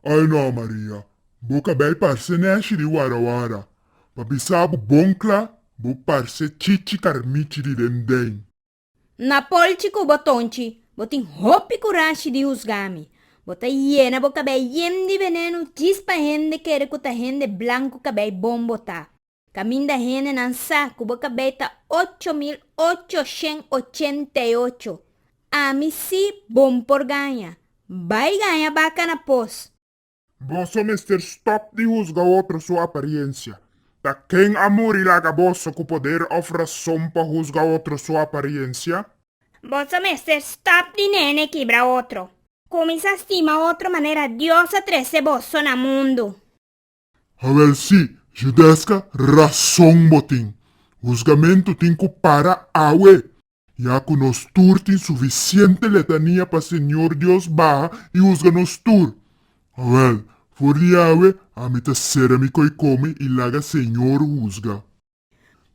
Oe no, Maria, bo cabei parce neshi di warawara, pa bisa bo bon cla, bo parce chichi carnichi di den den. N'ta polchi cu bo tonchi, bo tin hopi curashi di husga mi. Bo ta yena bo cabei yen di veneno djis pa hende kere cu ta hende blancu cabei bon bo ta. Kaminda hendenan sa ku bo kabei ta ocho mil ocho shen ochenta i ocho. Ami si bon por gaña. Bai gaña baka na pos. Boso mester stòp di husga otro su apariensia. Ta ken a muri laga boso ku poder òf rason pa husga otro su apariensia? Boso mester stòp di nene kibra otro. Kuminsá stima otro manera Dios a trese boso na mundu. Hawel, Si, Judesca, rason bo tin. Husgamentu tin cu para awe, ya cu nos tur tin suficiente letania pa Señor Dios baha y husga nos tur. Hawel, For di awe, ami ta cera mi coicomi y laga Señor husga.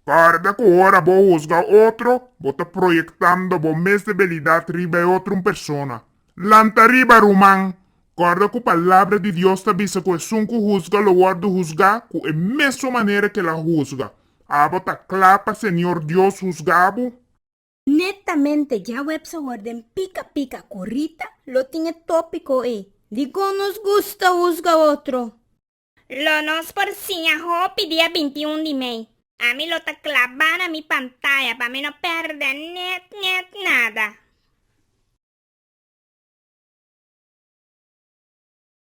Guarda cu ora bo husga otro, bo ta proyectando bo mes debilidad riba e otro un persona. Lanta riba, ruman! Guarda cu Palabra di Dios ta bisa cu esun cu husga lo worde husga cu e mesun manera cu el a husga. Abo ta cla pa Señor Dios husga bo. Netamente dja webs awor den Pica Pica cu Rita lo tin e topico ey di Con nos gusta husga otro. Lo nos por siña hopi dia binti un di mei. Ami lo ta klabá na mi pantaya pa mi no pèrdè nèt nèt nada.